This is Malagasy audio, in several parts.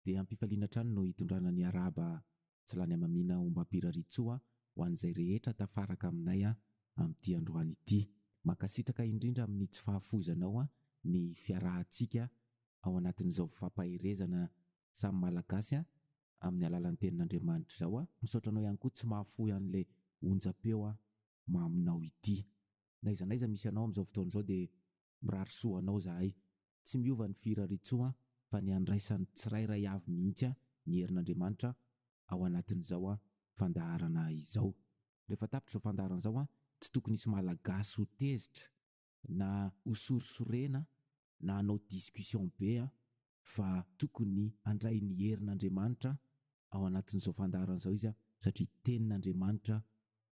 Dia am-pifaliana hatrany no hitondrana ny arahaba tsy lany hamamiana ombam-piraritsoa ho an'izay rehetra tafaraka aminay amin'ity androany ity. Mankasitraka indrindra amin'ny tsy fahafoizanao ny fiarahantsika ao anatin'izao fifampaherezana samy Malagasy amin'ny alalan'ny Tenin'Andriamanitra izao. Misaotra anao ihany koa tsy mahafoy an'ilay onjam-peo maminao ity. N'aiza n'aiza misy anao amin'izao fotoana izao dia Mirary soa ho anao izahay. Tsy miova ny firariantsoa an, fa ny handraisan'ny tsirairay avy mihitsy an ny herin'Andriamanitra ao anatin'izao an fandaharana izao. Rehefa tapitra izao fandaharana izao an, tsy tokony hisy Malagasy ho tezitra, na ho sorisorena, na hanao discussion be an, fa tokony handray ny herin'Andriamanitra ao anatin'izao fandaharana izao izy satria tenin'Andriamanitra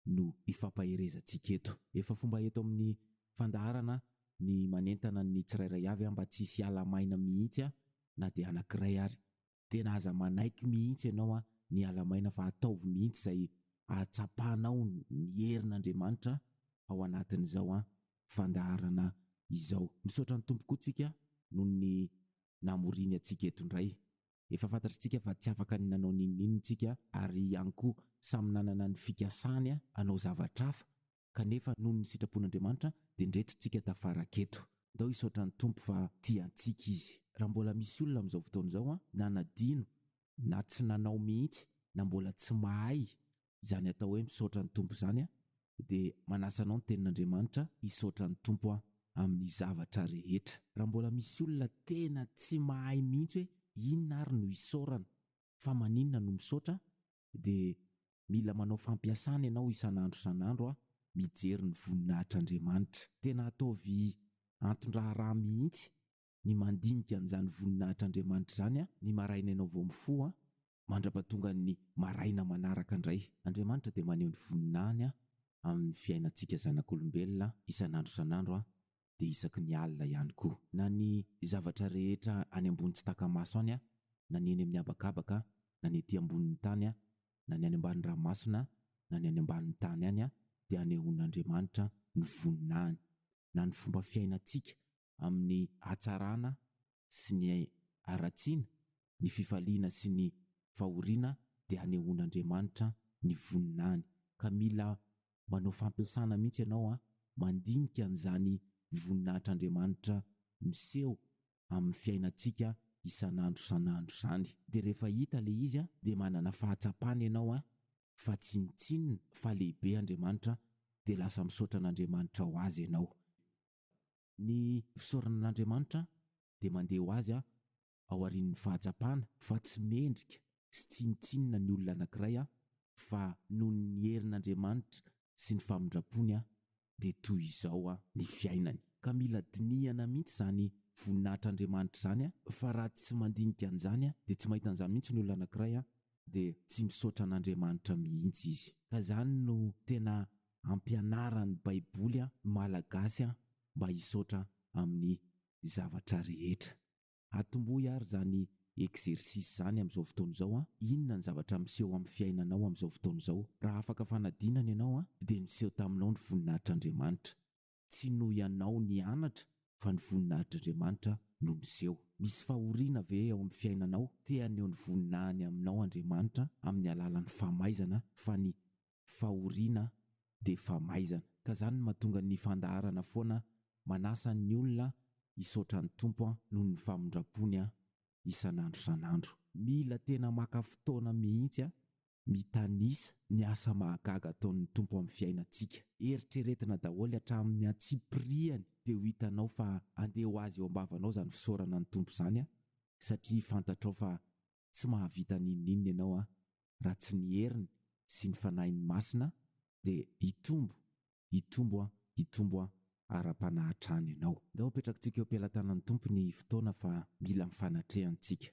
no ifampaherezantsika eto. Efa fomba eto amin'ny fandaharana ny manentana ny tsirairay avy mba tsy hisy hiala maina mihitsy na dia anankiray ary. Tena aza manaiky mihitsy ianao ny hiala maina fa ataovy mihitsy izay ahatsapanao ny herin'Andriamanitra ao anatin'izao an! fandaharana izao. Misaotra ny Tompo koa tsika noho ny namoriany antsika eto indray. Efa fantatr'tsika fa tsy afaka ny nanao n'inon'inona tsika ary ihany koa samy nanana ny fikasany hanao zavatra hafa kanefa noho ny sitrapon'Andriamanitra dia ndreto tsika tafaraka eto. Ndao hisaotra ny Tompo fa tia antsika Izy. Raha mbola misy olona amin'izao fotoana izao nanadino na tsy nanao mihitsy na mbola tsy mahay izany atao hoe misaotra ny Tompo izany aho dia manasa anao ny tenin'Andriamanitra hisaotra ny Tompo aho amin'ny zavatra rehetra. Raha mbola misy olona tena tsy mahay mihitsy hoe inona ary no isaorana, fa maninona no misaotra, dia mila manao fampiasana ianao isan'andro isan'andro aho mijery ny voninahitr'Andriamanitra. Tena ataovy anton-draharaha mihitsy ny mandinika an'izany voninahitr'Andriamanitra izany ny maraina ianao vao mifoha, mandra-pahatongan'ny maraina manaraka indray. Andriamanitra dia maneho ny voninahiny amin'ny fiainantsika zanak'olombelona isan'andro isan'andro, dia isaky ny alina ihany koa. Na ny zavatra rehetra any ambony tsy taka-maso any, na ny eny amin'ny habakabaka, na ny ety ambonin'ny tany, na ny any ambany ranomasina, na ny any ambanin'ny tany any, dia anehoan'Andriamanitra ny voninahiny. Na ny fomba fiainantsika, amin'ny hatsarana sy ny haratsiana, ny fifaliana sy ny fahoriana dia hanehoan'Andriamanitra ny voninahiny. Ka mila manao fampiasana mihitsy ianao an, mandinika an'izany voninahitr'Andriamanitra miseho amin'ny fiainantsika isan'andro isan'andro izany. Dia rehefa hita ilay izy an, dia manana fahatsapana ianao an, fa tsinontsinona fa lehibe Andriamanitra, dia lasa misaotra an'Andriamanitra ho azy ianao. Ny fisaoranan'Andriamanitra dia mandeha ho azy aorian'ny fahatsapana fa tsy mendrika sy tsinontsinona ny olona anankiray fa noho ny herin'Andriamanitra sy ny famindrampony dia toy izao ny fiainany. Ka mila dinihana mihitsy izany voninahitr'Andriamanitra izany fa raha tsy mandinika an'izany dia tsy mahita an'izany mihitsy ny olona anankiray dia tsy misaotra an'Andriamanitra mihitsy izy. Ka izany no tena ampianaran'ny baiboly an malagasy an mba hisaotra amin'ny zavatra rehetra. Atombohy ary izany exercice izany amin'izao fotoana izao an, inona ny zavatra miseho amin'ny fiainanao amin'izao fotoana izao. Raha afaka fanadinana ianao an dia miseho taminao ny voninahitr'Andriamanitra. Tsy noho ianao nianatra fa ny voninahitr'Andriamanitra no niseho. Misy fahoriana ve ao amin'ny fiainanao? Te haneho ny voninahiny aminao Andriamanitra amin'ny alalan'ny famaizana fa ny fahoriana dia famaizana. Ka izany no mahatonga ny fandaharana foana manasa ny olona hisaotra ny Tompo noho ny famindram-pony isan'andro isan'andro. Mila tena maka fotoana mihitsy mitanisa ny asa mahagaga ataon'ny Tompo amin'ny fiainantsika. Eritreretina daholo hatramin'ny antsipirihany dia ho hitanao fa andeha ho azy eo am-bavanao izany fisaorana ny Tompo izany an! satria fantatrao fa tsy mahavita n'inon'inona ianao an! raha tsy ny heriny sy ny Fanahiny Masina dia hitombo, hitombo an! hitombo an! ara-panahy hatrany ianao. Ndao apetrakitsika eo am-pelatanan'ny Tompo ny fotoana fa mila ny fanatrehantsika.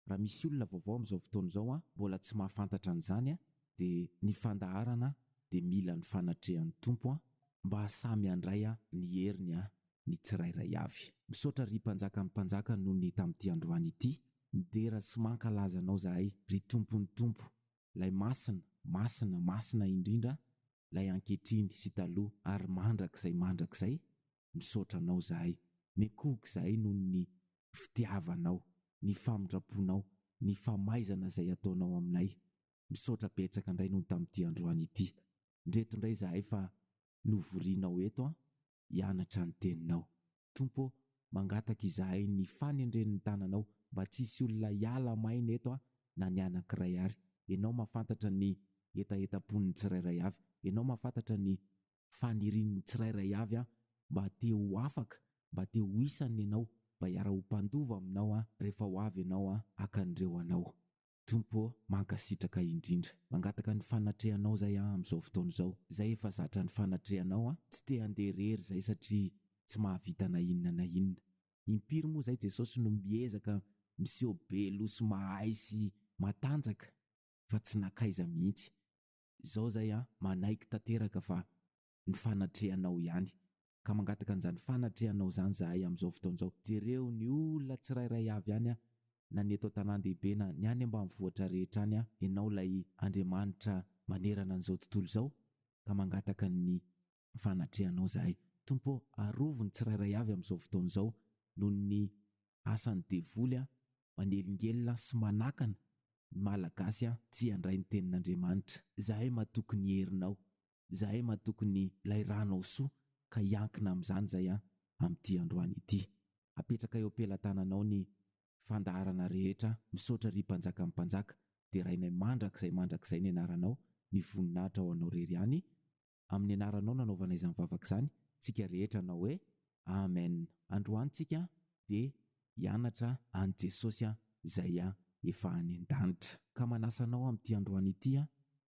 raha misy olona vaovao amin'izao fotoana izao an, mbola tsy mahafantatra an'izany an, dia ny fandaharana dia mila ny fanatrehan'ny Tompo an, mba samy handray an ny heriny an ny tsirairay avy. Misaotra ry Mpanjakan'ny Mpanjaka noho ny tamin'ity androany ity, midera sy mankalaza Anao zahay ry Tompon'ny Tompo, Ilay Masina, Masina, Masina indrindra, Ilay ankehitriny sy taloha ary mandrakizay mandrakizay, Misaotra anao zahay. Mekohoka zahay noho ny fitiavanao, ny famindraponao, ny famaizana izay ataonao aminay. Misaotra betsaka indray noho ny tamin'ity androany ity. Ndreto indray zahay fa novorianao eto an, hianatra ny teninao. Tompo ô, mangataka izahay ny fanendren'ny tananao mba tsy hisy olona hiala maina eto an, na ny anankiray ary. Ianao mafantatra ny hetahetam-pon'ny tsirairay avy. Ianao mafantatra ny Fanirian'ny tsirairay avy aho mba te ho afaka, mba te ho isan'ny anao, mba hiara-ho mpandova aminao aho rehefa ho avy ianao haka ny reo anao. Tompo ô, mankasitraka indrindra. Mangataka ny fanatrehanao izay aho amin'izao fotoana izao. Izay efa zatra ny fanatrehanao aho, tsy te handeha irery izay satria tsy mahavita na inona na inona. Impiry moa izay Jesosy no miezaka miseho be loha sy mahay sy matanjaka fa tsy nankaiza mihitsy. izao zay an, manaiky tanteraka fa ny fanatrehanao ihany, ka mangataka an'izany fanatrehanao izany zahay amin'izao fotoana izao, jereo ny olona tsirairay avy any an, na ny eto an-tanàn-dehibe na ny any ambanivohitra rehetra any an, ianao ilay Andriamanitra manerana an'izao tontolo izao, ka mangataka ny Fanatrehanao izahay, Tompo ô, arovy ny tsirairay avy amin'izao fotoana izao noho ny asan'ny devoly manelingelina sy manakana ny Malagasy tsy handray ny Tenin'Andriamanitra. Izahay matoky ny herinao, izahay matoky ny ilay Ranao soa ka hiankina amin'izany izahay amin'ity androany ity. Apetraka eo am-pelatananao ny fandaharana rehetra, misaotra ry Mpanjakan'ny mpanjaka, derainay mandrakizay mandrakizay ny anaranao, ny voninahitra ho anao irery ihany Amin'ny anaranao nanaovana izany vavaka izany tsika rehetra hanao hoe Amen androany tsika dia hianatra an'i Jesosy a Zay a efa any an-danitra. Ka manasa anao amin'ity androany ity a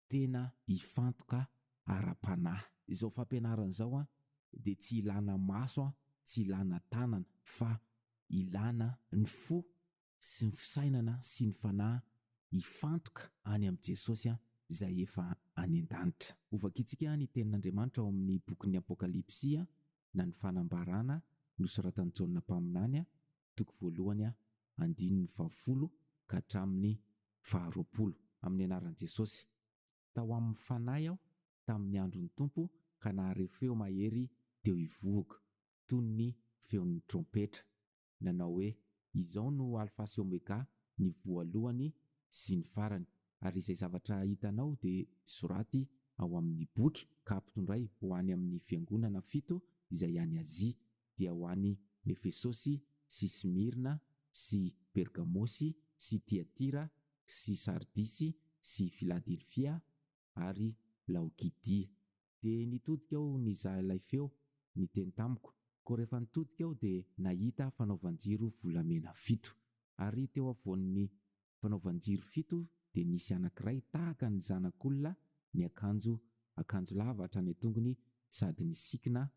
tena hifantoka ara-panahy. Izao fampianarana izao a dia tsy ilana maso a tsy ilana tanana fa ilana ny fo sy ny fisainana sy ny fanahy hifantoka any amin'i Jesosy izay efa any an-danitra. Hovakintsika ny Tenin'Andriamanitra ao amin'ny bokin'ny Apokalypsy na ny Fanambarana nosoratan'i Jaona mpaminany, toko voalohany, andininy fahafolo ka hatramin'ny faharoapolo. Amin'ny anaran'i Jesosy. Tao amin'ny Fanahy aho tamin'ny andron'ny Tompo ka nahareo feo mahery teo hivohoko, toy ny feon'ny trompetra. nanao hoe, Izao no Alfa sy Omega, ny Voalohany sy ny Farany, ary izay zavatra hitanao dia soraty ao amin'ny boky ka ampitondray ho any amin'ny fiangonana fito izay any Azia, dia ho an'i Efesosy sy Smyrna sy Pergamosy sy Tyatira sy Sardisy sy Filadelfia ary Laokidia. Dia nitodika aho nizaha ilay feo, niteny tamiko, koa rehefa nitodika aho dia nahita fanaovan-jiro volamena fito. Ary teo afovoan'ny fanaovan-jiro fito dia nisy anankiray tahaka ny zanak'olona niakanjo akanjo lava hatrany an-tongony sady nisikina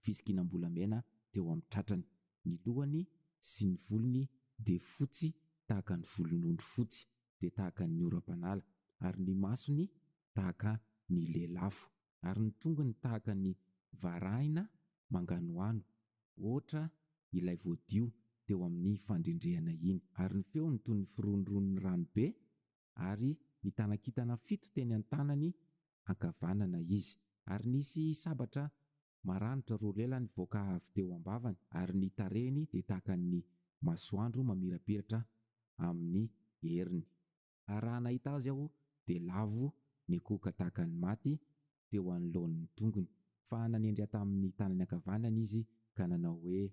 fisikinam-bolamena teo amin'ny tratrany. Ny lohany sy ny volony dia fotsy tahaka ny volon'ondry fotsy, dia tahaka ny oram-panala, ary ny masony tahaka ny lelafo, ary ny tongony tahaka ny varahina manganohano, hoatra ilay voadio teo amin'ny fandrendrehana iny. Ary ny feony toy ny firohondrohon'ny rano be, ary nitana kintana fito teny an-tanany ankavanana izy. Ary nisy sabatra maranitra roa lela nivoaka avy teo am-bavany, ary ny tarehiny dia tahaka ny masoandro mamirapiratra amin'ny heriny. Ary raha nahita azy aho, dia lavo nikohoka tahaka ny maty teo anoloan' ny tongony. Fa nanendry ahy tamin' ny tanany ankavanany izy ka nanao hoe,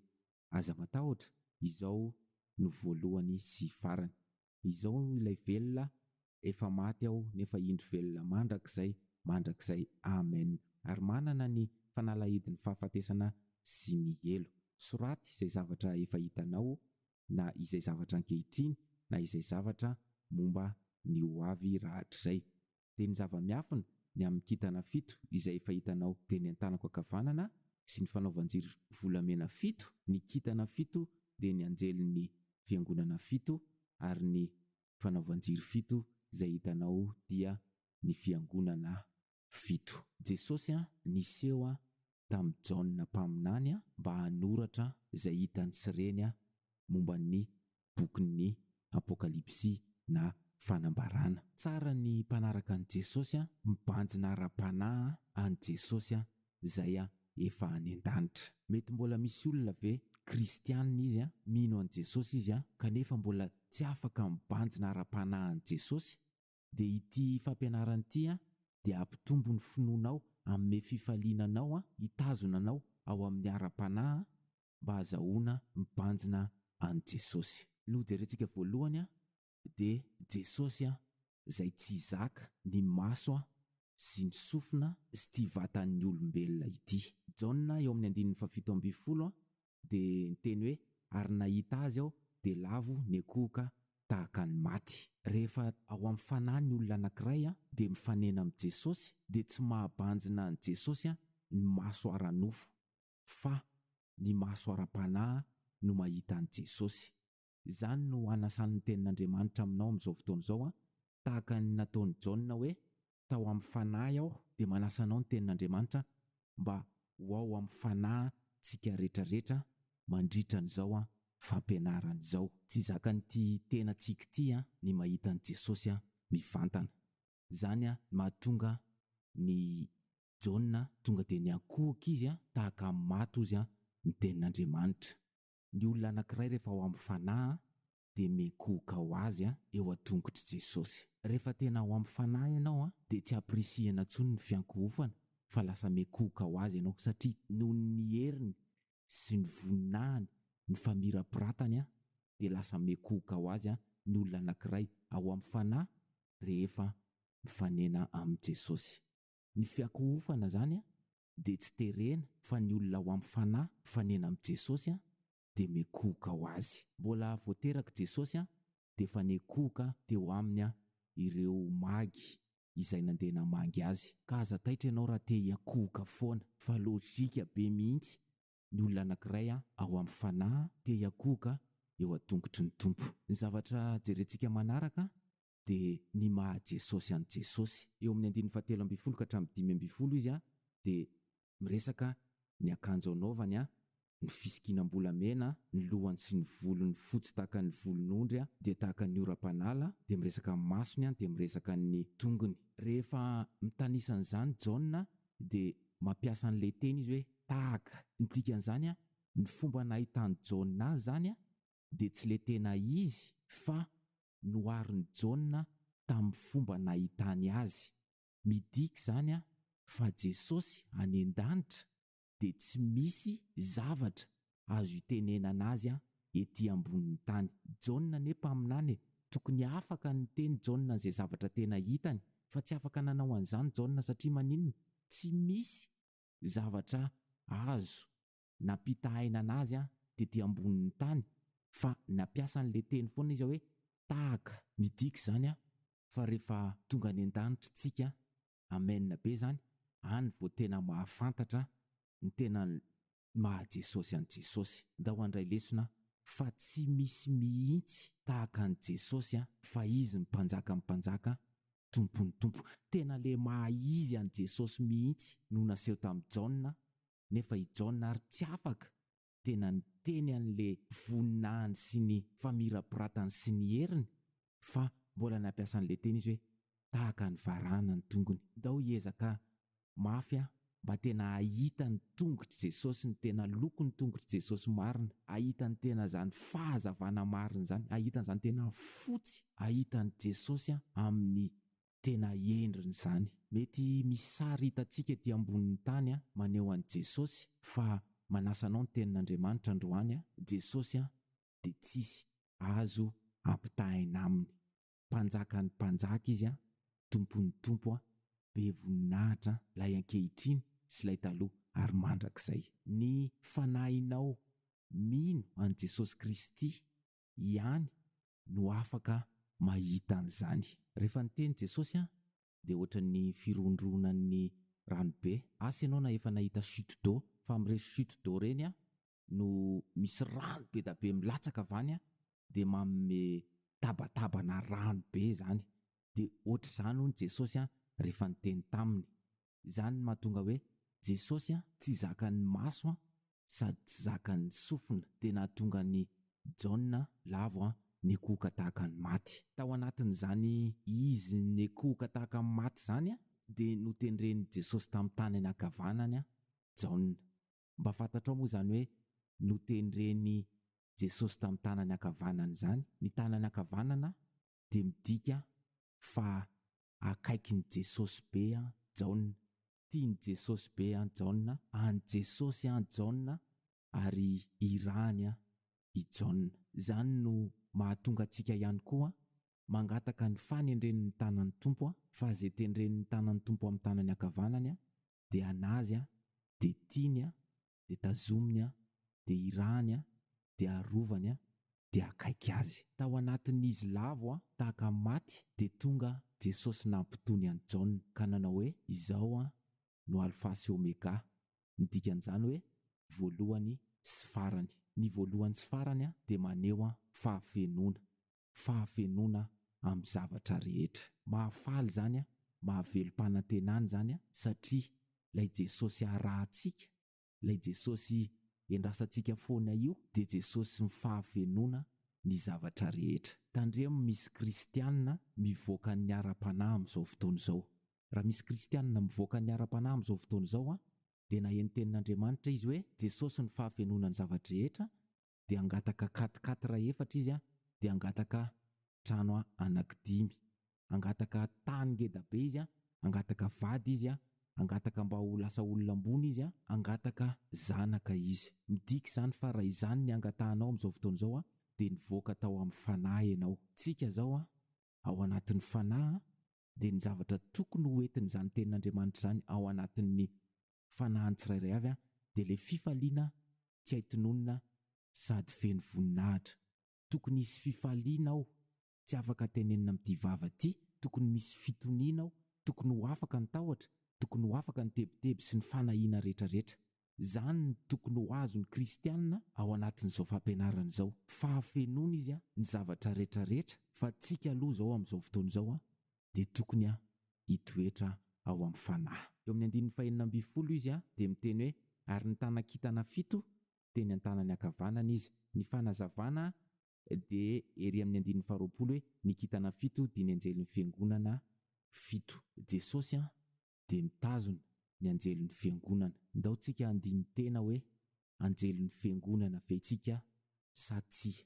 Aza matahotra, izao no voalohany sy farany. Izao ilay velona efa maty aho nefa indro velona mandrakizay mandrakizay Amen ary manana ny fanalahidin'ny fahafatesana sy ny helo. Soraty izay zavatra efa hitanao na izay zavatra ankehitriny na izay zavatra momba ny ho avy rahatrizay. dia ny zava-miafina ny amin'ny kintana fito izay efa hitanao, dia ny an-tanako ankavanana sy ny fanaovan-jiro volamena fito, ny kintana fito dia ny anjelin'ny fiangonana fito, ary ny fanaovan-jiro fito izay hitanao dia ny fiangonana fito. Jesosy niseho tamin'i Jaona mpaminany mba hanoratra izay hitany sy reny momba ny bokin'ny Apokalypsy na Fanambarana. Tsara ny mpanaraka an'i Jesosy a, mibanjina ara-panahy an'i Jesosy a, zay a efa any an-danitra. Mety mbola misy olona ve kristianina izy a, mino an'i Jesosy izy a, kanefa mbola tsy afaka mibanjina ara-panahy an'i Jesosy? Dia ity fampianarana ity a, dia hampitombo ny finoanao, hanome fifaliana anao a, hitazona anao ao amin'ny ara-panahy a, mba hazahoana mibanjina an'i Jesosy. Ny hojerentsika voalohany dia Jesosy izay tsy zaka ny maso sy ny sofina sy ity vatan'ny olombelona ity. Jaona eo amin'ny andininy fahafito ambin'ny folo dia niteny hoe, Ary nahita Azy aho dia lavo niankohoka tahaka ny maty. Rehefa ao amin'ny fanahy ny olona anankiray dia mifanena amin'i Jesosy dia tsy mahabanjina an'i Jesosy ny maso ara-nofo. fa ny maso ara-panahy no mahita an'i Jesosy. Izany no anasan'ny Tenin'Andriamanitra aminao amin'izao fotoana izao, tahaka ny nataon'i Jaona hoe, Tao amin'ny Fanahy aho, dia manasa anao ny Tenin'Andriamanitra mba ho ao amin'ny fanahintsika rehetrarehetra mandritra an'izao fampianarana izao. Tsy zakan'ity tenantsika ity ny mahita an'i Jesosy mivantana. Izany no mahatonga ny Jaona tonga dia niankohoka izy tahaka amin'ny maty ozy an, ny tenin'Andriamanitra. Ny olona anankiray rehefa ao amin'ny fanahy dia miankohoka ho azy eo an-tongotr'i Jesosy. Rehefa tena ao amin'ny fanahy ianao dia tsy ampirisihina intsony ny fiankohofana fa lasa miankohoka ho azy ianao satria noho ny heriny sy ny voninahiny, ny famirapiratany dia lasa miankohoka ho azy ny olona anankiray ao amin'ny fanahy rehefa mifanena amin'i Jesosy. Ny fiakohofana zany a de tsy terena fa ny olona ao am fanahy fanena am Jesosy a de mekohoka ho azy. Mbola vao terak Jesosy a defa nekohoka teo aminy a ireo magy izay nandeha namangy azy ka aza taitra ianao raha te hiakohoka foana fa lojika be mihitsy ny olona anakiray a ao am fanahy te hiakohoka eo a tongotry ny Tompo. Ny zavatra jerentsika manaraka dia ny maha Jesosy an'i Jesosy. Eo amin'ny andininy fahatelo ambin'ny folo ka hatramin'ny dimy ambin'ny folo izy dia miresaka ny akanjo anaovany, ny fisikinam-bolamena ny lohany sy ny volony fotsy tahaka ny volon'ondry dia tahaka ny oram-panala, dia miresaka ny masony dia miresaka ny tongony. Rehefa mitanisa an'izany Jaona dia mampiasa an'ilay teny izy hoe tahaka. Ny dikan'izany, ny fomba nahitany Jaona azy izany dia tsy le tena izy fa noharin'i Jaona tamin'ny fomba nahitany azy. Midika izany fa Jesosy any an-danitra dia tsy misy zavatra azo itenenana azy ety ambonin'ny tany. Jaona anie mpaminany e! Tokony afaka niteny Jaona an'izay zavatra tena hitany fa tsy afaka nanao an'izany Jaona satria maninona? Tsy misy zavatra azo nampitahaina anazy tety ambonin'ny tany fa nampiasa an'ilay teny foana izy hoe tahaka. Midika izany fa rehefa tonga any an-danitra tsika, amen be izany, any vao tena mahafantatra ny tena ny maha Jesosy an'i Jesosy. Ndao handray lesona fa tsy misy mihitsy tahaka an'i Jesosy fa izy ny mpanjakan'ny mpanjaka, tompon'ny tompo. Tena ilay maha izy an'i Jesosy mihitsy no naseho tamin'i Jaona nefa i Jaona ary tsy afaka tena niteny an'le voninahiny sy ny famirapiratany sy ny heriny fa mbola nampiasa an'le teny izy hoe tahaka ny varahana ny tongony. Ndao hiezaka mafy aho mba tena hahita ny tongotr'i Jesosy, ny tena lokon'ny tongotr'i Jesosy marina, hahita ny tena zany fahazavana marina zany, hahita an'zany tena fotsy, hahita an'i Jesosy aho amin'ny Tena hendriny izany. Mety misy sary hitantsika ety ambonin'ny tany maneho an'i Jesosy fa manasa anao ny Tenin'Andriamanitra androany Jesosy dia tsisy azo ampitahaina Aminy. Mpanjakan'ny mpanjaka Izy, Tompon'ny tompo, be voninahitra ilay ankehitriny sy ilay taloha ary mandrakizay. Ny fanahinao mino an'i Jesosy Kristy ihany no afaka mahita an'izany. Rehefa niteny Jesosy an, dia ohatran'ny firondronan'ny rano be. Asa ianao na efa nahita chute d'eau, fa amin'ireny chute d'eau ireny an, no misy rano be da be milatsaka avy any an, dia manome tabatabana rano be izany. Dia ohatr'izany hono Jesosy an, rehefa niteny taminy. Izany no mahatonga hoe Jesosy tsy zakan'ny maso sady tsy zakan'ny sofina, dia nahatonga an'i Jaona lavo nikohoka tahaka ny maty. Tao anatin'izany izy nikohoka tahaka ny maty izany dia notendren'i Jesosy tamin'ny tany anankavanany Jaona. Mba fantatrao moa izany hoe notendren'i Jesosy tamin'ny tanany ankavanany izany? Ny tanany ankavanana dia midika fa akaikin'i Jesosy be an Jaona, tian'i Jesosy be an Jaona, an'i Jesosy an Jaona ary irahany an i Jaona. Izany no mahatonga antsika ihany koa mangataka ny fanendren'ny tanan'ny Tompo an, fa izay tendren'ny tanan'ny Tompo amin'ny tanany ankavanany an dia an'azy an dia tiany an dia tazominy aho, dia irahany aho, dia arovany aho, dia akaiky azy. Tao anatin'izy lavo aho tahaka ny maty, dia tonga Jesosy nampitony an'i Jaona, ka nanao hoe, Izao aho no Alfa sy Omega, ny dikan'izany hoe, voalohany sy farany. Ny voalohany sy farany dia maneho fahafenoana. fahafenoana amin'ny zavatra rehetra. Mahafaly izany an, mahavelom-panantenana izany an, satria ilay Jesosy arahantsika, ilay Jesosy endrasantsika foana io, dia Jesosin'ny fahafenoana ny zavatra rehetra. Tandremo misy kristiana mivoaka ny ara-panahy amin'izao fotoana izao. Raha misy kristiana mivoaka ny ara-panahy amin'izao fotoana izao an, dia naheno ny tenin'Andriamanitra izy hoe, Jesosy no fahafenoana ny zava-drehetra, dia hangataka quatre quatre raha efatra izy an, dia hangataka trano an anaky dimy, hangataka tany ngeda be izy an, hangataka vady izy an, hangataka mba ho lasa olona ambony izy an, hangataka zanaka izy. Midika izany fa raha izany ny hangatahanao amin'izao fotoana izao an, dia nivoaka tao amin'ny fanahy ianao. Tsika izao an, ao anatin'ny fanahy an, dia ny zavatra tokony ho entin'izany tenin'Andriamanitra izany ao anatin'ny fanahiny tsirairay avy dia ilay fifaliana tsy hay tononina sady feno voninahitra. Tokony hisy fifaliana ao, tsy afaka tenenina amin'ity vava ity, tokony misy fitoniana ao, tokony ho afaka ny tahotra, tokony ho afaka ny tebiteby sy ny fanahiana rehetrarehetra. Izany no tokony ho azon'ny kristiana ao anatin'izao fampianarana izao. Fahafenoana izy ny zavatra rehetra rehetra fa antsika aloha izao amin'izao fotoana izao dia tokony hitoetra ao amin'ny fanahy. Eo amin'ny andininy fahenina ambin'ny folo izy dia miteny hoe, Ary nitana kintana fito teny an-tanany ankavanana izy. Ny fanazavana dia ery amin'ny andininy faharoapolo hoe, Ny kintana fito dia ny anjelin'ny fiangonana fito. Jesosy dia mitazona ny anjelin'ny fiangonana. Ndao tsika handini-tena hoe anjelin'ny fiangonana ve tsika sa tsia.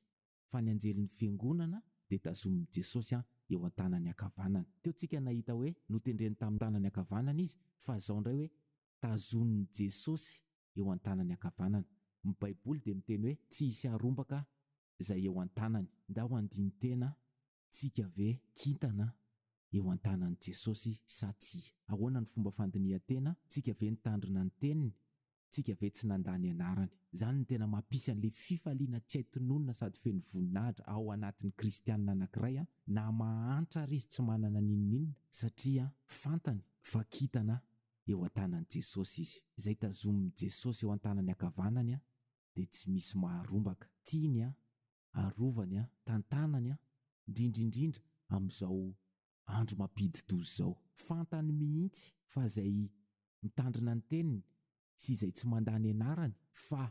Fa ny anjelin'ny fiangonana dia tazomin'i Jesosy eo an-tanany ankavanana. Teo tsika nahita hoe notendreny tamin'ny tanany ankavanana izy fa zao ndray hoe tazonin'i Jesosy eo an-tanany ankavanana. Ny baiboly dia miteny hoe tsy hisy harombaka zay eo an-tanany. Ndao handini-tena tsika ve kintana eo an-tanan'i Jesosy sa tsia? Ahoana ny fomba fandinihan-tena tsika ve nitandrina ny teniny? Tsika ve tsy nanda ny anarany? Izany no tena mampisy an'ilay fifaliana tsy hay tononina sady feno voninahitra ao anatin'ny kristianina anankiray na mahantra ary izy tsy manana n'inon'inona satria fantany fa kintana eo an-tanan'i Jesosy izy. Izay tazomin'i Jesosy eo an-tanany ankavanany dia tsy misy maharombaka. Tiany arovany an, tantanany an, indrindra indrindra amin'izao andro mampidi-doza izao. Fantany mihitsy fa izay mitandrina ny teniny sy izay tsy mandà ny anarany fa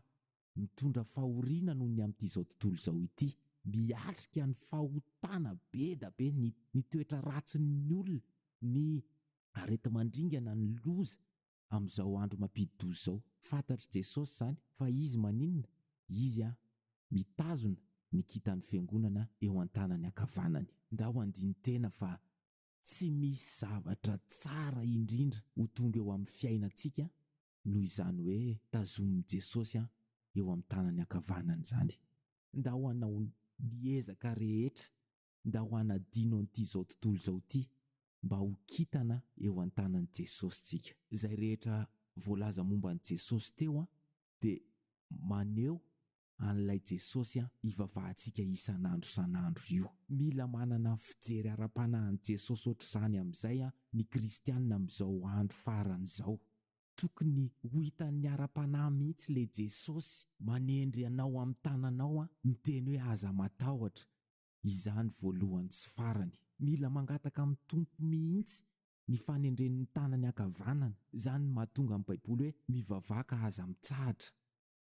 mitondra fahoriana noho ny amin'itizao tontolo izao ity. Miatrika ny fahotana be da be, ny toetra ratsin'ny olona, ny areti-mandringana, ny loza, amin'izao andro mampidi-doza izao. Fantatr'i Jesosy izany, fa Izy maninona? Izy an! mitazona ny kintan'ny Fiangonana eo an-tanany ankavanany. Ndao handini-tena fa tsy misy zavatra tsara indrindra ho tonga eo amin'ny fiainantsika noho izany hoe tazomin'i Jesosy an! eo amin'ny tanany ankavanany izany. Ndao hanao ny ezaka rehetra Ndao hanadino an'ity izao tontolo izao ity mba ho kintana eo an-tanan'i Jesosy tsika. Izay rehetra voalaza momba an'i Jesosy teo dia maneho an'ilay Jesosy ivavahantsika isan'andro isan'andro io. Mila manana fijery ara-panahy an'i Jesosy ohatr'izany amin'izay ny kristiana amin'izao andro farany izao. Tokony ho hitan'ny ara-panahy mihitsy ilay Jesosy manendry anao amin'ny tananao miteny hoe aza matahotra, izany voalohany sy farany. Mila mangataka amin'ny Tompo mihitsy ny fanendren'ny tanany ankavanana, izany no mahatonga ny Baiboly hoe mivavaka aza mitsahatra.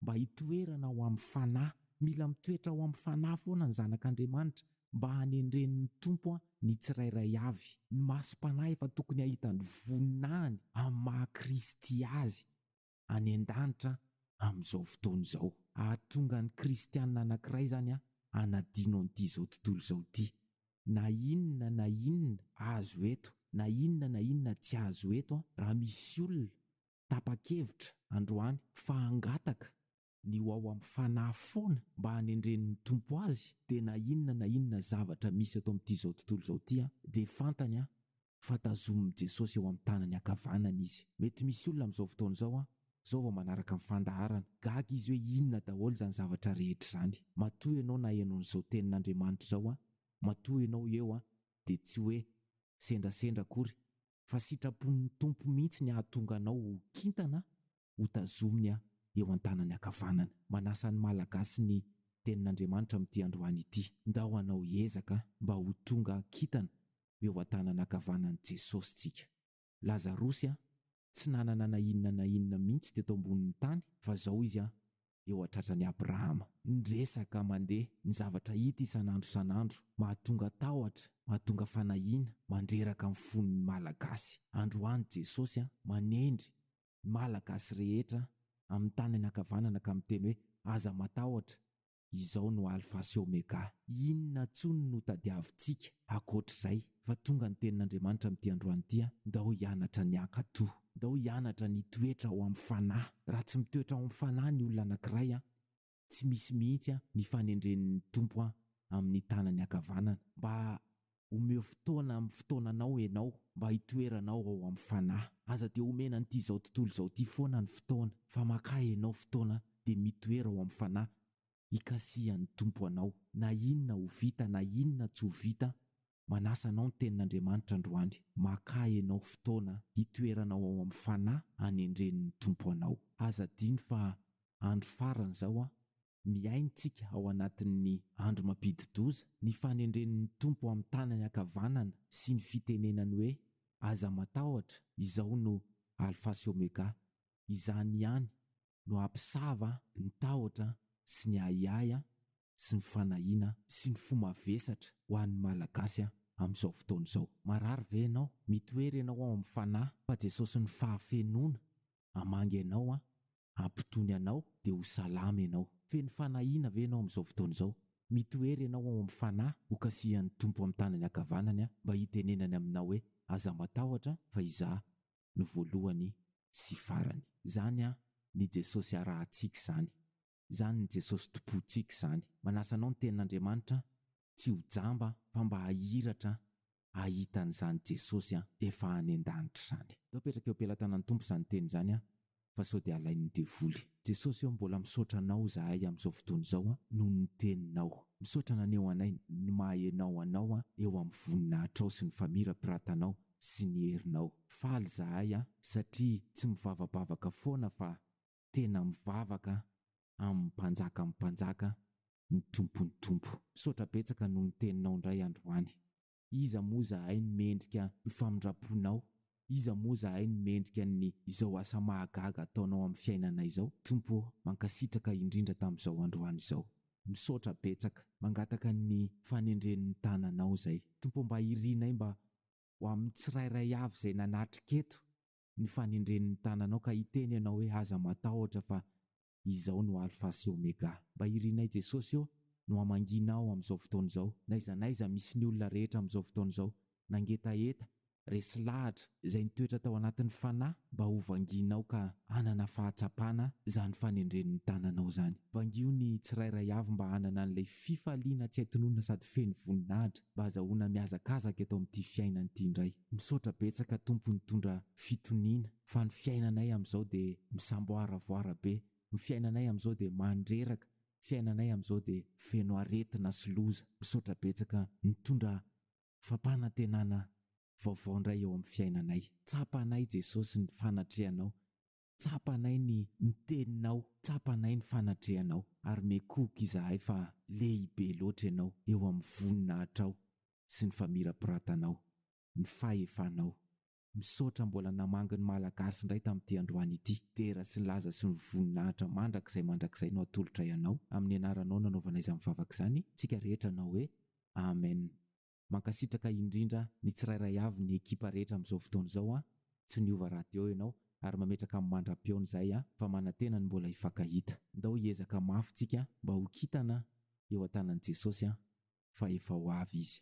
Mba hitoerana ao amin'ny fanahy, mila mitoetra ao amin'ny fanahy foana ny zanak'Andriamanitra mba hanendren'ny Tompo ny tsirairay avy. Ny masom-panahy efa tokony hahita ny voninahiny amin'ny maha Kristy azy. any an-danitra amin'izao fotoana izao. Hahatonga ny kristiana anankiray izany hanadino an'ity izao tontolo izao ity. Na inona na inona azo eto, na inona na inona tsy azo eto, raha misy olona tapa-kevitra androany fa hangataka ny ho ao amin'ny fanahy foana mba hanendren'ny Tompo azy dia na inona na inona zavatra misy eto amin'ity izao tontolo izao ity dia fantany an fa tazomin'i Jesosy eo amin'ny tanany ankavanana izy. Mety misy olona amin'izao fotoana izao an, izao vao manaraka ny fandaharana, gaga izy hoe inona daholo izany zavatra rehetra izany. Matoa ianao naheno an'izao tenin'Andriamanitra izao an, matoa ianao eo an, dia tsy hoe sendrasendra akory fa sitrapon'ny Tompo mihitsy ny hahatonga anao ho kintana ho tazominy aho eo an-tanany ankavanana. Manasa ny Malagasy ny Tenin'Andriamanitra amin'ity androany ity. Ndao hanao ezaka mba ho tonga kintana eo an-tanana ankavanan'i Jesosy tsika. Lazarosy a, tsy nanana na inona na inona mihitsy teto ambonin'ny tany fa zao izy a, eo an-tratran'i Abrahama. Ny resaka mandeha, ny zavatra hita isan'andro isan'andro, mahatonga tahotra, mahatonga fanahiana mandreraka ny fon'ny Malagasy. Androany Jesosy a, manendry Malagasy rehetra amin'ny tanany ankavanana ka miteny hoe aza matahotra, izao no Alpha sy Omega. Inona intsony no tadiavintsika ankoatr'izay fa tonga ny tenin'Andriamanitra amin'ity androany ity an! Ndao hianatra ny hankatò, ndao hianatra ny hitoetra ao amin'ny fanahy. Raha tsy mitoetra ao amin'ny fanahy ny olona anankiray an! tsy misy mihitsy an ny fanendren'ny Tompo an amin'ny tanany ankavanana mba omeo fotoana amin'ny fotoananao enao mba hitoeranao ao amin'ny Fanahy aza dia omena an'ity izao tontolo izao ity foana ny fotoana fa makà enao fotoana dia mitoera ao amin'ny Fanahy hikasihan'ny Tompo anao na inona ho vita na inona tsy ho vita Manasa anao ny Tenin'Andriamanitra androany, makà ianao fotoana hitoerana ao amin'ny Fanahy hanendren'ny Tompo anao. Aza adino fa andro farany izao an! Mihaintsika ao anatin'ny andro mampidi-doza, ny fanendren'ny Tompo amin'ny tanany ankavanana sy ny fitenenany hoe, Aza matahotra, izao no Alfa sy Omega. Izany ihany no hampisava ny tahotra sy ny ahiahy sy ny fanahiana sy ny fo mavesatra ho an'ny Malagasy amin'izao fotoana izao. Marary ve ianao? Mitoery ianao ao amin'ny Fanahy fa Jesosin'ny fahafenoana hamangy anao, hampitony anao dia ho salama ianao. Feno fanahiana ve ianao amin'izao fotoana izao? Mitoery ianao ao amin'ny Fanahy hokasihan'ny Tompo amin'ny tanany ankavanany mba hitenenany aminao hoe, Aza matahotra fa Izaho no voalohany sy farany. Zany an ny Jesosy arahantsika izany. Zany ny Jesosy tompontsika izany. Manasa anao ny tenin'Andriamanitra tsy ho jamba fa mba hahiratra hahita an'izany Jesosy efa any an-danitra izany. Toa apetraka eo am-pelatanan'ny Tompo izany teny izany an, fa sao dia alain'ny devoly. Jesosy ô mbola misaotra anao zahay amin'izao fotoana izao an noho ny teninao. Misaotra naneho anay ny maha enao anao an eo amin'ny voninahitrao sy ny famirapiratanaao sy ny herinao. Faly zahay an satria tsy mivavabavaka foana fa tena mivavaka amin'ny mpanjakan'ny mpanjaka ny tompon'ny tompo. Misaotra betsaka noho ny teninao indray androany. Iza moa zahay no mendrika ny famindram-ponao? Iza moa zahay no mendrika ny izao asa mahagaga ataonao amin'ny fiainanay izao? Tompo ô, mankasitraka indrindra tamin'izao androany izao. Misaotra betsaka. Mangataka ny fanendren'ny tananao izay. Tompo ô, mba irinay mba ho amin'ny tsirairay avy izay nanatrika eto ny fanendren'ny tananao ka hiteny ianao hoe aza matahotra fa Izao no Alfa sy Omega. Mba irinay Jesosy ô, no hamangianao amin'izao fotoana izao. N'aiza n'aiza misy ny olona rehetra amin'izao fotoana izao, nangetaheta, resy lahatra, izay nitoetra tao anatin'ny fanahy, mba ho vangianao ka hanana fahatsapana izany fanendren'ny tananao izany. Vangio ny tsirairay avy mba hanana an'ilay fifaliana tsy hay tononina sady feno voninahitra, mba hazahoana mihazakazaka eto amin'ity fiainana ity indray. Misaotra betsaka Tompo nitondra fitoniana. fa ny fiainanay amin'izao dia misamboaravoara be, ny fiainanay amin'izao dia mandreraka, ny fiainanay amin'izao dia feno aretina sy loza. Misaotra betsaka nitondra fampanantenana vaovao indray eo amin'ny fiainanay. Tsapa anay Jesosy ny fanatrehanao, tsapa anay ny ny teninao, tsapa anay ny fanatrehanao ary miekohoka izahay fa lehibe loatra ianao eo amin'ny voninahitrao sy ny famirapiratanao, ny fahefanao. Misaotra mbola namangy ny Malagasy indray tamin'ity androany ity. Dera sy ny laza sy ny voninahitra mandrakizay mandrakizay no atolotray anao. Amin'ny anaranao nanaovana izany vavaka izany tsika rehetra hanao hoe Amen. Mankasitraka indrindra ny tsirairay avy ny ekipa rehetra amin'izao fotoana izao an! Tsy niova radio ianao ary mametraka amin'ny mandra-pihaona izahay an! Fa manantena ny mbola hifankahita. Ndao hiezaka mafy tsika mba ho kitana eo an-tanan'i Jesosy an! fa efa ho avy izy.